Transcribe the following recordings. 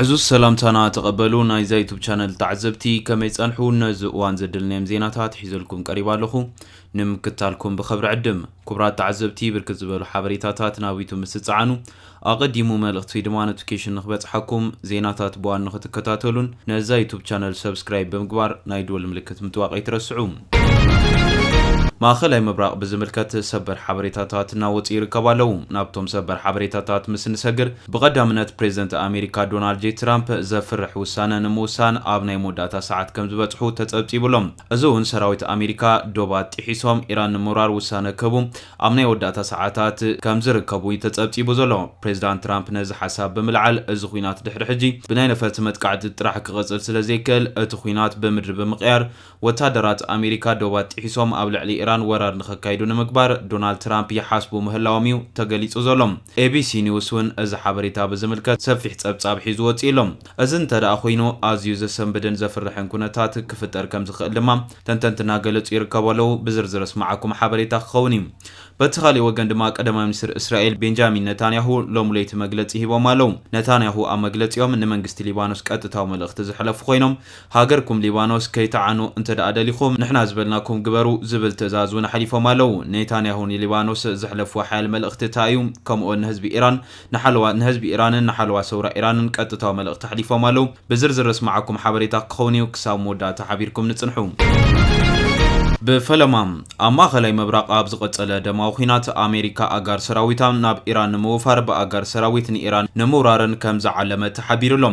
ዕዙዝ ሰላምታና ተቐበሉ ናይዛ ዩቱብ ቻነል ተዓዘብቲ ከመይ ጸንሑ ነዚ እዋን ዘድልነዮም ዜናታት ሒዘልኩም ቀሪባ ኣለኹ ንምክታልኩም ብኸብሪ ዕድም ኩብራት ተዓዘብቲ ብርክት ዝበሉ ሓበሬታታት ናብ ዩቱብ ምስ ትጸዓኑ ኣቐዲሙ መልእኽቲ ወይ ድማ ኖቲፊኬሽን ንክበጽሓኩም ዜናታት ብዋን ንክትከታተሉን ነዛ ዩቱብ ቻነል ሰብስክራይብ ብምግባር ናይ ድወል ምልክት ምጥዋቕ ኣይትረስዑ ማእኸላይ ምብራቕ ብዝምልከት ሰበር ሓበሬታታት እናወፅኡ ይርከቡ ኣለው። ናብቶም ሰበር ሓበሬታታት ምስ እንሰግር ብቐዳምነት ፕሬዝደንት ኣሜሪካ ዶናልድ ጄ ትራምፕ ዘፍርሕ ውሳነ ንምውሳን ኣብ ናይ መወዳእታ ሰዓት ከምዝበፅሑ ተፀብፂቡ ኣሎ። እዚ እውን ሰራዊት ኣሜሪካ ዶባት ጢሒሶም ኢራን ንምውራር ውሳነ ክህቡ ኣብ ናይ ወዳእታ ሰዓታት ከምዝርከቡ እዩ ተፀብፂቡ ዘሎ። ፕሬዝዳንት ትራምፕ ነዚ ሓሳብ ብምልዓል እዚ ኹናት ድሕሪ ሕጂ ብናይ ነፈርቲ መጥቃዕቲ ጥራሕ ክቕፅል ስለዘይክእል እቲ ኹናት ብምድሪ ብምቕያር ወታደራት ኣሜሪካ ዶባት ጥሒሶም ኣብ ልዕሊ ኢራን ወራር ንኸካይዱ ንምግባር ዶናልድ ትራምፕ ይሓስቡ ምህላዎም'ዩ ተገሊጹ ዘሎ። ኤቢሲ ኒውስ'ውን እዚ ሓበሬታ ብዝምልከት ሰፊሕ ጸብጻብ ሒዙ ወጺኡ'ሎ። እዚ እንተድኣ ኾይኑ ኣዝዩ ዘሰንብድን ዘፍርሕን ኩነታት ክፍጠር ከምዝኽእል ድማ ተንተንቲ እናገለጹ ይርከቡ ኣለው። ብዝርዝር ኣስምዓኩም ሓበሬታ ክኸውን'ዩ። በቲ ካሊእ ወገን ድማ ቀዳማይ ሚኒስትር እስራኤል ቤንጃሚን ነታንያሁ ሎሚ ለይቲ መግለጺ ሂቦም ኣለው። ነታንያሁ ኣብ መግለጺኦም ንመንግስቲ ሊባኖስ ቀጥታዊ መልእኽቲ ዘሕለፉ ኾይኖም ሃገርኩም ሊባኖስ ከይትዓኑ እንተድኣ ደሊኹም ንሕና ዝበልናኩም ግበሩ ዝብል ትእዛዝ እውን ኣሕሊፎም ኣለው። ኔታንያሁ ንሊባኖስ ዘሕለፍዎ ሓያል መልእኽቲ እታይ እዩ? ከምኡ'ውን ንህዝቢ ኢራን ንሓለዋ ንህዝቢ ኢራንን ንሓለዋ ሰውራ ኢራንን ቀጥታዊ መልእኽቲ ኣሕሊፎም ኣለው። ብዝርዝር ዘስምዓኩም ሓበሬታ ክኸውን እዩ። ክሳብ መወዳእታ ሓቢርኩም ንጽንሑ። ብፈለማ፣ ኣብ ማእከላይ ምብራቕ ኣብ ዝቐጸለ ደማዊ ኲናት፣ ኣሜሪካ ኣጋር ሰራዊታ ናብ ኢራን ንምውፋር ብኣጋር ሰራዊት ንኢራን ንምውራርን ከም ዝዓለመት ተሓቢሩ ኣሎ።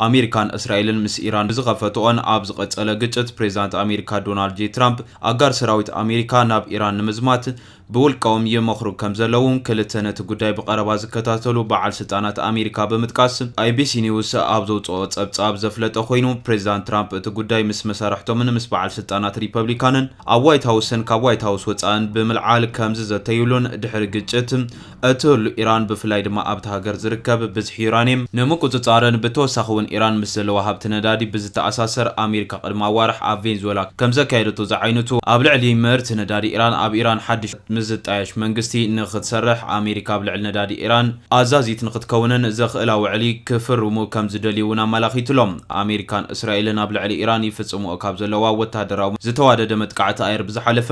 ኣሜሪካን እስራኤልን ምስ ኢራን ብዝኸፈትኦን ኣብ ዝቐጸለ ግጭት፣ ፕሬዝዳንት ኣሜሪካ ዶናልድ ጄ ትራምፕ፣ ኣጋር ሰራዊት ኣሜሪካ ናብ ኢራን ንምዝማት ብውልቀኦም ይመኽሩ ከምዘለዉ ክልተ ነቲ ጉዳይ ብቐረባ ዝከታተሉ በዓል ስልጣናት ኣሜሪካ ብምጥቃስ ABC News ኣብ ዘውጽኦ ጸብጻብ ዘፍለጠ ኮይኑ፣ ፕሬዝዳንት ትራምፕ እቲ ጉዳይ ምስ መሳርሕቶምን ምስ በዓል ስልጣናት ሪፐብሊካንን ኣብ ዋይት ሃውስን ካብ ዋይት ሃውስ ወጻእን ብምልዓል ከምዝዘተዩሉን ድሕሪ ግጭት እቲ ሉ ኢራን ብፍላይ ድማ ኣብታ ሃገር ዝርከብ ብዝሒ ዩራኒየም ንምቁጽጻርን ብተወሳኺ'ውን ኢራን ምስ ዘለዋ ሃብቲ ነዳዲ ብዝተኣሳሰር ኣሜሪካ ቅድሚ ኣዋርሕ ኣብ ቬንዝወላ ከምዘካየደቶ ዝዓይነቱ ኣብ ልዕሊ ምህርቲ ነዳዲ ኢራን ኣብ ኢራን ሓድሽ ምስ ዝጣየሽ መንግስቲ ንኽትሰርሕ ኣሜሪካ ኣብ ልዕሊ ነዳዲ ኢራን ኣዛዚት ንኽትከውንን ዘኽእላ ውዕሊ ክፍርሙ ከምዝደልዩ'ውን ኣመላኺቱ'ሎ። ኣሜሪካን እስራኤልን ኣብ ልዕሊ ኢራን ይፍጽምኦ ካብ ዘለዋ ወተሃደራዊ ዝተዋደደ መጥቃዕቲ ኣየር ብዝሓለፈ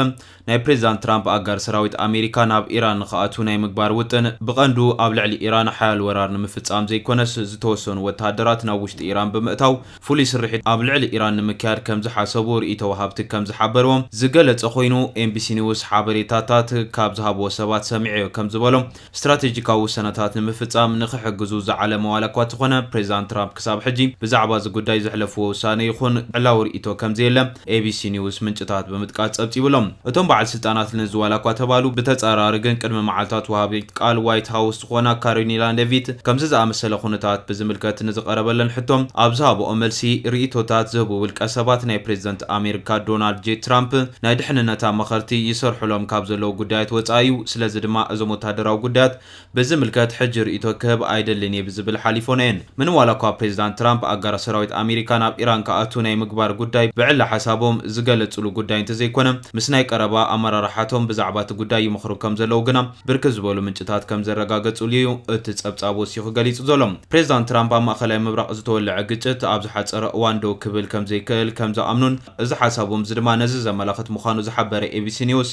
ናይ ፕሬዚዳንት ትራምፕ ኣጋር ሰራዊት ኣሜሪካ ናብ ኢራን ንክኣትው ናይ ምግባር ውጥን ብቀንዱ ኣብ ልዕሊ ኢራን ሓያል ወራር ንምፍፃም ዘይኮነስ ዝተወሰኑ ወታሃደራት ናብ ውሽጢ ኢራን ብምእታው ፍሉይ ስርሒት ኣብ ልዕሊ ኢራን ንምክያድ ከምዝሓሰቡ ሪኢቶ ወሃብቲ ከምዝሓበርዎም ዝገለፀ ኮይኑ ኤንቢሲ ኒውስ ሓበሬታታት ካብ ዝሃብዎ ሰባት ሰሚዐዮ ከምዝበሎም ስትራቴጂካዊ ውሳነታት ንምፍጻም ንኽሕግዙ ዝዓለመ ዋላኳ እተኾነ፣ ፕሬዚዳንት ትራምፕ ክሳብ ሕጂ ብዛዕባ እዚ ጉዳይ ዘሕለፍዎ ውሳነ ይኹን ዕላዊ ርእይቶ ከምዘየለ ኤቢሲ ኒውስ ምንጭታት ብምጥቃስ ጸብጺቡ ኣሎ። እቶም በዓል ስልጣናት ነዚ ዋላኳ ተባሉ፣ ብተጻራሪ ግን ቅድሚ መዓልታት ወሃቢት ቃል ዋይት ሃውስ ዝኾና ካሪኒላ ሌቪት ከምዚ ዝኣመሰለ ኩነታት ብዝምልከት ንዝቐረበለን ሕቶ ኣብ ዝሃበኦ መልሲ፣ ርእይቶታት ዝህቡ ውልቀሰባት ናይ ፕሬዚደንት ኣሜሪካ ዶናልድ ጄ ትራምፕ ናይ ድሕንነት ኣማኸርቲ ይሰርሑሎም ካብ ዘለዉ ጉዳያት ወጻኢ እዩ፣ ስለዚ ድማ እዞም ወተሃደራዊ ጉዳያት ብዝምልከት ሕጂ ርእይቶ ክህብ ኣይደልን እየ ብዝብል ሓሊፎን እየን። ምንም ዋላኳ ፕሬዚዳንት ትራምፕ ኣጋራት ሰራዊት ኣሜሪካ ናብ ኢራን ክኣትው ናይ ምግባር ጉዳይ ብዕሊ ሓሳቦም ዝገለፅሉ ጉዳይ እንተዘይኮነ ምስ ናይ ቀረባ ኣመራርሓቶም ብዛዕባ እቲ ጉዳይ ይመኽሩ ከም ዘለዉ ግና ብርክት ዝበሉ ምንጭታት ከም ዘረጋገፁሉ እዩ እቲ ፀብፃብ ወሲኹ ገሊፁ ዘሎ። ፕሬዚዳንት ትራምፕ ኣብ ማእኸላይ ምብራቕ ዝተወለዐ ግጭት ኣብ ዝሓፀረ እዋን ደው ክብል ከም ዘይክእል ከም ዝኣምኑን፣ እዚ ሓሳቦም'ዚ ድማ ነዚ ዘመላኽት ምዃኑ ዝሓበረ ኤቢሲ ኒውስ፣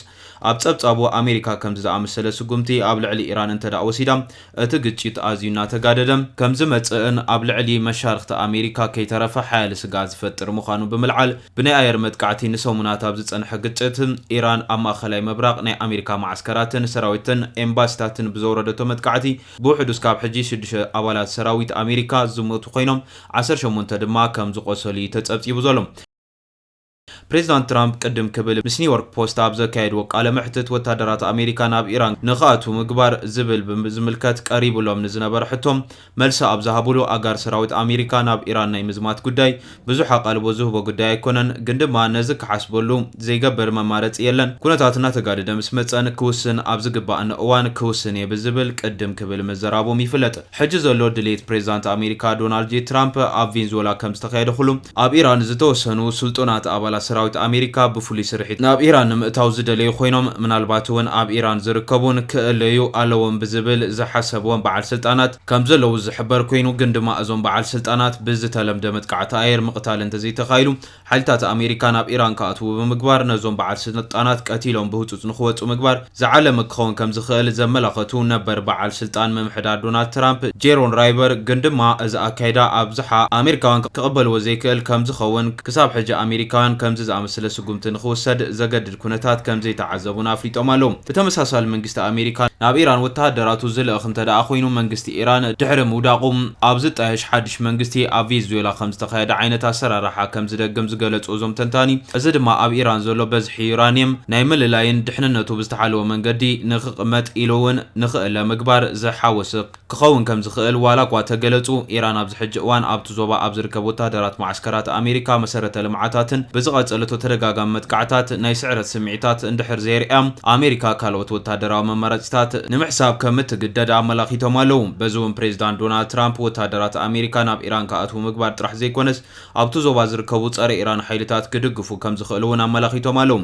ኣብ ጸብጻቡ፣ ኣሜሪካ ከምዚ ዝኣመሰለ ስጉምቲ ኣብ ልዕሊ ኢራን እንተድኣ ወሲዳ፣ እቲ ግጭት ኣዝዩ እናተጋደደ ከም ዝመጽእን ኣብ ልዕሊ መሻርኽቲ ኣሜሪካ ከይተረፈ ሓያለ ስግኣት ዝፈጥር ምዃኑ ብምልዓል፣ ብናይ ኣየር መጥቃዕቲ ንሰሙናት ኣብ ዝጸንሐ ግጭት፣ ኢራን ኣብ ማእከላይ ምብራቕ ናይ ኣሜሪካ መዓስከራትን ሰራዊትን ኤምባሲታትን ብዘውረደቶ መጥቃዕቲ ብውሕዱ እስካብ ሕጂ ሽዱሽተ ኣባላት ሰራዊት ኣሜሪካ ዝሞቱ ኮይኖም፣ ዓሰርተ ሸሞንተ ድማ ከም ዝቖሰሉ እዩ ተጸብጺቡ ዘሎ። ፕሬዚዳንት ትራምፕ ቅድም ክብል ምስ ኒውዮርክ ፖስት ኣብ ዘካየድዎ ቃለ መሕትት ወታደራት ኣሜሪካ ናብ ኢራን ንክኣትዉ ምግባር ዝብል ብዝምልከት ቀሪቡሎም ንዝነበረ ሕቶ መልሲ ኣብ ዝሃብሉ ኣጋር ሰራዊት ኣሜሪካ ናብ ኢራን ናይ ምዝማት ጉዳይ ብዙሕ ኣቓልቦ ዝህቦ ጉዳይ ኣይኮነን ግን ድማ ነዚ ክሓስበሉ ዘይገብር መማረፂ የለን ኩነታት እናተጋደደ ምስ መፀ ክውስን ኣብ ዝግባእኒ እዋን ክውስን እየ ብዝብል ቅድም ክብል ምዘራቦም ይፍለጥ። ሕጂ ዘሎ ድሌት ፕሬዝዳንት ኣሜሪካ ዶናልድ ጄ ትራምፕ ኣብ ቬንዝወላ ከም ዝተኻየደ ኩሉ ኣብ ኢራን ዝተወሰኑ ስልጡናት ኣባላት ሰራዊት ኣሜሪካ ብፍሉይ ስርሒት ናብ ኢራን ንምእታው ዝደለዩ ኮይኖም ምናልባት እውን ኣብ ኢራን ዝርከቡን ክእለዩ ኣለዎም ብዝብል ዝሓሰብዎም በዓል ስልጣናት ከም ዘለዉ ዝሕበር ኮይኑ ግን ድማ እዞም በዓል ስልጣናት ብዝተለምደ መጥቃዕቲ ኣየር ምቕታል እንተዘይተኻኢሉ ሓይልታት ኣሜሪካ ናብ ኢራን ክኣትዉ ብምግባር ነዞም በዓል ስልጣናት ቀቲሎም ብህፁፅ ንክወፁ ምግባር ዝዓለመ ክኸውን ከምዝኽእል ዘመላኸቱ ነበር በዓል ስልጣን ምምሕዳር ዶናልድ ትራምፕ ጄሮን ራይቨር ግን ድማ እዚ ኣካይዳ ኣብዝሓ ኣሜሪካውያን ክቕበልዎ ዘይክእል ከምዝኸውን ክሳብ ሕጂ ኣሜሪካውያን ከምዚ ዝኣመሰለ ስጉምቲ ንክውሰድ ዘገድድ ኩነታት ከም ዘይተዓዘቡን ኣፍሊጦም ኣለዉ። ብተመሳሳሊ መንግስቲ ኣሜሪካ ናብ ኢራን ወተሃደራቱ ዝልእኽ እንተድኣ ኮይኑ መንግስቲ ኢራን ድሕሪ ምውዳቑ ኣብ ዝጣየሽ ሓድሽ መንግስቲ ኣብ ቬዝዌላ ከም ዝተኻየደ ዓይነት ኣሰራርሓ ከም ዝደግም ዝገለፁ እዞም ተንታኒ እዚ ድማ ኣብ ኢራን ዘሎ በዝሒ ዩራኒየም ናይ ምልላይን ድሕንነቱ ብዝተሓለወ መንገዲ ንክቕመጥ ኢሉ እውን ንክእለ ምግባር ዝሓወሰ ክኸውን ከም ዝኽእል ዋላ'ኳ ተገለጹ፣ ኢራን ኣብዚ ሕጂ እዋን ኣብቲ ዞባ ኣብ ዝርከብ ወተሃደራት መዓስከራት ኣሜሪካ፣ መሰረተ ልምዓታትን ብዝቐጸለቶ ተደጋጋሚ መጥቃዕታት ናይ ስዕረት ስምዒታት እንድሕር ዘየርእያ፣ ኣሜሪካ ካልኦት ወተሃደራዊ መማረጺታት ንምሕሳብ ከም እትግደድ ኣመላኺቶም ኣለዉ። በዚ'ውን ፕሬዚዳንት ዶናልድ ትራምፕ ወተሃደራት ኣሜሪካ ናብ ኢራን ክኣትዉ ምግባር ጥራሕ ዘይኮነስ ኣብቲ ዞባ ዝርከቡ ጸረ-ኢራን ሓይልታት ክድግፉ ከም ዝኽእሉ'ውን ኣመላኺቶም ኣለዉ።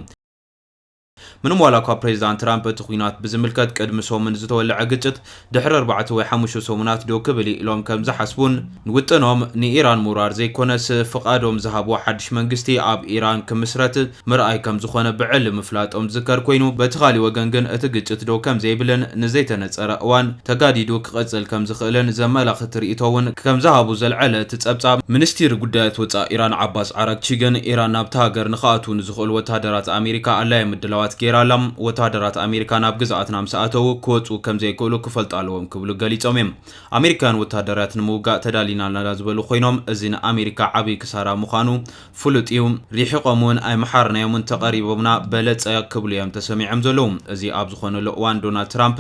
ምንም ዋላኳ ፕሬዚዳንት ትራምፕ እቲ ኹናት ብዝምልከት ቅድሚ ሰሙን ዝተወለዐ ግጭት ድሕሪ ኣርባዕተ ወይ ሓሙሽተ ሰሙናት ዶ ክብል ኢሎም ከምዝሓስቡን ንውጥኖም ንኢራን ምውራር ዘይኮነስ ፍቓዶም ዝሃብዎ ሓድሽ መንግስቲ ኣብ ኢራን ክምስረት ምርኣይ ከምዝኾነ ብዕሊ ምፍላጦም ዝዝከር ኮይኑ በቲ ካሊእ ወገን ግን እቲ ግጭት ደው ከምዘይብልን ንዘይተነፀረ እዋን ተጋዲዱ ክቕጽል ከም ዝኽእልን ዘመላኽት ርእይቶ'ውን ከም ዝሃቡ ዘልዐለ እቲ ጸብጻብ፣ ምንስቲር ጉዳያት ወጻኢ ኢራን ዓባስ ዓራግቺ ግን፣ ኢራን ናብታ ሃገር ንኽኣትዉ ንዝኽእሉ ወተሃደራት ኣሜሪካ ኣላዪ ምድላዋት ገይራ ኣላ፣ ወተሃደራት ኣሜሪካ ናብ ግዝኣትና ምስ ኣተዉ ክወጽኡ ከም ዘይክእሉ ክፈልጡ ኣለዎም ክብሉ ገሊጾም'ዮም። ኣሜሪካውያን ወተሃደርያት ንምውጋእ ተዳሊና ኣለና ዝበሉ ኮይኖም፣ እዚ ንኣሜሪካ ዓቢ ክሳራ ምዃኑ ፍሉጥ'ዩ። ሪሒቖም'ውን ኣይመሓርናዮምን፣ ተቐሪቦምና በለጸ ክብሉ'ዮም ተሰሚዖም ዘለዉ። እዚ ኣብ ዝኾነሉ እዋን ዶናልድ ትራምፕ፣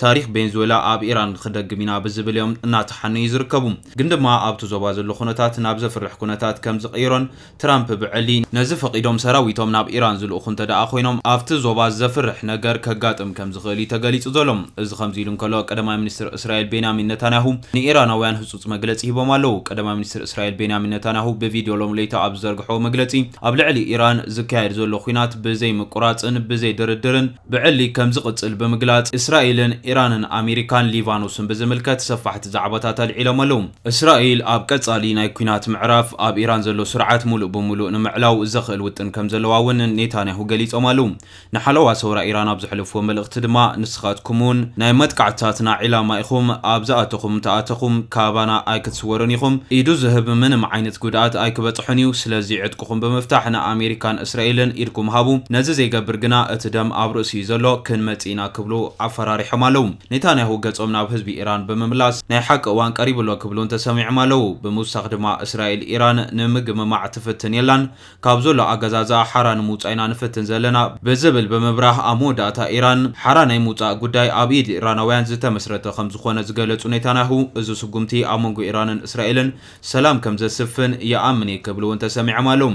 ታሪኽ ቬንዙዌላ ኣብ ኢራን ንክደግም ኢና ብዝብል እዮም እናተሓነዩ ዝርከቡ። ግን ድማ ኣብቲ ዞባ ዘሎ ኩነታት ናብ ዘፍርሕ ኩነታት ከም ዝቕይሮን ትራምፕ ብዕሊ ነዚ ፈቒዶም ሰራዊቶም ናብ ኢራን ዝልእኹ እንተድኣ ኮይኖም ኣብቲ ዞባ ዘፍርሕ ነገር ከጋጥም ከም ዝኽእል እዩ ተገሊጹ ዘሎ። እዚ ከምዚ ኢሉ እንከሎ ቀዳማይ ሚኒስትር እስራኤል ቤንያሚን ነታንያሁ ንኢራናውያን ህጹጽ መግለጺ ሂቦም ኣለዉ። ቀዳማይ ሚኒስትር እስራኤል ቤንያሚን ነታንያሁ ብቪድዮ ሎሚ ለይቲ ኣብ ዝዘርግሖዎ መግለጺ ኣብ ልዕሊ ኢራን ዝካየድ ዘሎ ኲናት ብዘይምቁራጽን ብዘይ ድርድርን ብዕሊ ከምዝቕፅል ብምግላፅ እስራኤልን ኢራንን ኣሜሪካን ሊባኖስን ብዝምልከት ሰፋሕቲ ዛዕባታት ኣልዒሎም ኣለው። እስራኤል ኣብ ቀፃሊ ናይ ኲናት ምዕራፍ ኣብ ኢራን ዘሎ ስርዓት ሙሉእ ብሙሉእ ንምዕላው ዘኽእል ውጥን ከምዘለዋ እውን ኔታንያሁ ገሊፆም ኣለው። ንሓለዋ ሰውራ ኢራን ኣብ ዘሕለፍዎ መልእኽቲ ድማ ንስኻትኩም እውን ናይ መጥቃዕትታትና ዒላማ ኢኹም፣ ኣብ ዝኣተኹም እንተኣተኹም ካባና ኣይክትስወሩን ኢኹም፣ ኢዱ ዝህብ ምንም ዓይነት ጉድኣት ኣይክበፅሖን እዩ፣ ስለዚ ዕጥቁ እኹም ብምፍታሕ ንኣሜሪካን እስራኤልን ኢድኩም ሃቡ፣ ነዚ ዘይገብር ግና እቲ ደም ኣብ ርእሱ እዩ ዘሎ፣ ክንመጽእ ኢና ክብሉ ኣፈራሪሖም ኣለዉ። ኔታንያሁ ገጾም ናብ ህዝቢ ኢራን ብምምላስ ናይ ሓቂ እዋን ቀሪቡ ኣሎ ክብሉን ተሰሚዖም ኣለዉ። ብምውሳኽ ድማ እስራኤል ኢራን ንምግምማዕ ትፍትን የላን፣ ካብ ዘሎ ኣገዛዝኣ ሓራ ንምውጻእ ኢና ንፍትን ዘለና ብዝብል ብምብራህ ኣብ መወዳእታ ኢራን ሓራ ናይ ምውጻእ ጉዳይ ኣብ ኢድ ኢራናውያን ዝተመስረተ ከምዝኾነ ዝገለጹ ኔታንያሁ እዚ ስጉምቲ ኣብ መንጎ ኢራንን እስራኤልን ሰላም ከም ዘስፍን ይኣምን እየ ክብሉ እውን ተሰሚዖም ኣለው።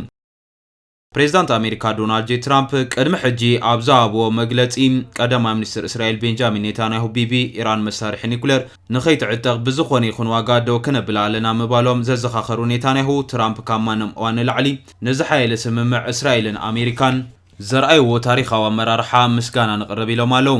ፕሬዝዳንት ኣሜሪካ ዶናልድ ጄ ትራምፕ ቅድሚ ሕጂ ኣብ ዝሃብዎ መግለፂ ቀዳማይ ሚኒስትር እስራኤል ቤንጃሚን ኔታንያሁ ቢቢ ኢራን መሳርሒ ኒኩሌር ንከይትዕጠቕ ብዝኾነ ይኹን ዋጋ ደው ክነብላ ኣለና ምባሎም ዘዘኻኸሩ ኔታንያሁ ትራምፕ ካብ ማንም እዋን ንላዕሊ ንዝሓየለ ስምምዕ እስራኤልን ኣሜሪካን ዘርኣይዎ ታሪኻዊ ኣመራርሓ ምስጋና ነቕርብ ኢሎም ኣለው።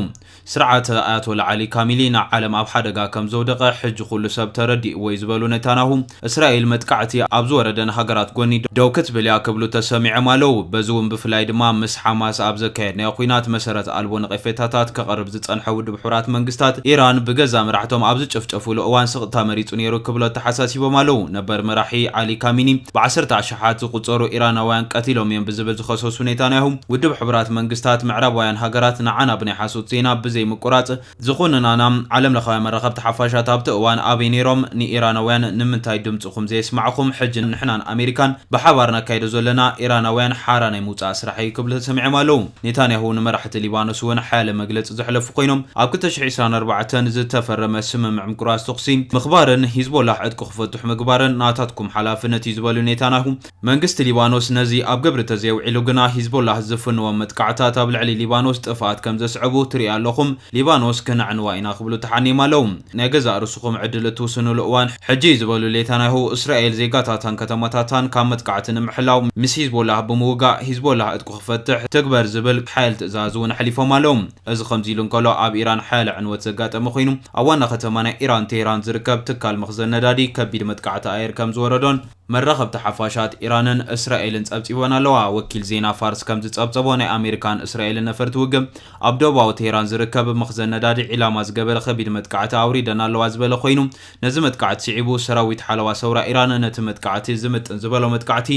ስርዓተ ኣያቶላ ዓሊ ካሚሊ ንዓለም ኣብ ሓደጋ ከም ዘውደቐ ሕጂ ኩሉ ሰብ ተረዲእዎ'ዩ ዝበሉ ኔታንያሁ፣ እስራኤል መጥቃዕቲ ኣብ ዝወረደን ሃገራት ጎኒ ደው ክትብል'ያ ክብሉ ተሰሚዖም ኣለው። በዚ'ውን ብፍላይ ድማ ምስ ሓማስ ኣብ ዘካየድናዮ ኲናት መሰረት ኣልቦ ነቐፌታታት ከቕርብ ዝጸንሐ ውድብ ሕቡራት መንግስታት፣ ኢራን ብገዛእ መራሕቶም ኣብ ዝጨፍጨፍሉ እዋን ስቕታ መሪጹ ነይሩ ክብሉ ኣተሓሳሲቦም ኣለው። ነበር መራሒ ዓሊ ካሚኒ ብዓሰርተ ኣሽሓት ዝቑጸሩ ኢራናውያን ቀቲሎም እዮም ብዝብል ዝኸሰሱ ኔታንያሁ፣ ውድብ ሕቡራት መንግስታት፣ ምዕራባውያን ሃገራት ንዓና ብናይ ሓሶት ዜና ብዘይ ምቁራጽ ዝኹንናና፣ ዓለምለኻውያን መራኸብቲ ሓፋሻት ኣብቲ እዋን ኣበይ ነይሮም፣ ንኢራናውያን ንምንታይ ድምጽኹም ዘየስማዕኹም፣ ሕጂ ንሕናን ኣሜሪካን ብሓባር ነካይዶ ዘለና ኢራናውያን ሓራ ናይ ምውጻእ ስራሕ እዩ ክብሉ ተሰሚዖም ኣለዉ። ኔታንያሁ ንመራሕቲ ሊባኖስ እውን ሓያለ መግለጺ ዘሕለፉ ኮይኖም፣ ኣብ ክልተ ሽሕ ዒስራን ኣርባዕተን ዝተፈረመ ስምምዕ ምቁራጽ ተኹሲ ምኽባርን ሂዝቦላህ ዕጥቁ ክፈቱ፣ ብዙሕ ምግባረን ናታትኩም ሓላፍነት እዩ ዝበሉ ኔታናሁ፣ መንግስቲ ሊባኖስ ነዚ ኣብ ግብሪ ተዘየውዒሉ ግና ሂዝቦላህ ዝፍንዎም መጥቃዕታት ኣብ ልዕሊ ሊባኖስ ጥፍኣት ከምዘስዕቡ ትሪኡ ኣለኹም፣ ሊባኖስ ክነዕንዋ ኢና ክብሉ ተሓኔም ኣለው። ናይ ገዛእ ርስኹም ዕድል እትውስንሉ እዋን ሕጂ እዩ ዝበሉ ሌታናሁ፣ እስራኤል ዜጋታታን ከተማታታን ካብ መጥቃዕቲ ንምሕላው ምስ ሂዝቦላህ ብምውጋእ ሂዝቦላህ ዕጥቁ ክፈትሕ ትግበር ዝብል ሓያል ትእዛዝ እውን ኣሕሊፎም ኣለው። እዚ ከምዚ'ሉ እንከሎ፣ ኣብ ኢራን ሓያለ ዕንወት ዘጋጠመ ኮይኑ፣ ኣብ ዋና ከተማ ናይ ኢራን ቴህራን ዝርከብ ትካል መኽዘን ነዳዲ ከቢድ መጥቃዕቲ ኣየር ከምዝወረዶን፣ መራኸብቲ ሓፋሻት ኢራንን እስራኤልን ጸብጺበን ኣለዋ። ወኪል ዜና ፋርስ ከምዝጸብጸቦ፣ ናይ ኣሜሪካን እስራኤልን ነፈርቲ ውግእ፣ ኣብ ደቡባዊ ቴህራን ዝርከብ መኽዘን ነዳዲ ዒላማ ዝገበረ ከቢድ መጥቃዕቲ ኣውሪደን ኣለዋ ዝበለ ኮይኑ፣ ነዚ መጥቃዕቲ ስዒቡ ሰራዊት ሓለዋ ሰውራ ኢራን ነቲ መጥቃዕቲ ዝምጥን ዝበሎ መጥቃዕቲ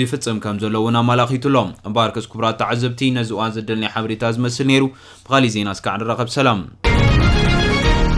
ይፍጽም ከም ዘሎ እውን ኣማላኺቱ ኣሎ። እምበኣርከስ ክቡራት ተዓዘብቲ ነዚ እዋን ዘደልናዮ ሓበሬታ ዝመስል ነይሩ። ብኻሊእ ዜና እስካዕ ንራኸብ ሰላም።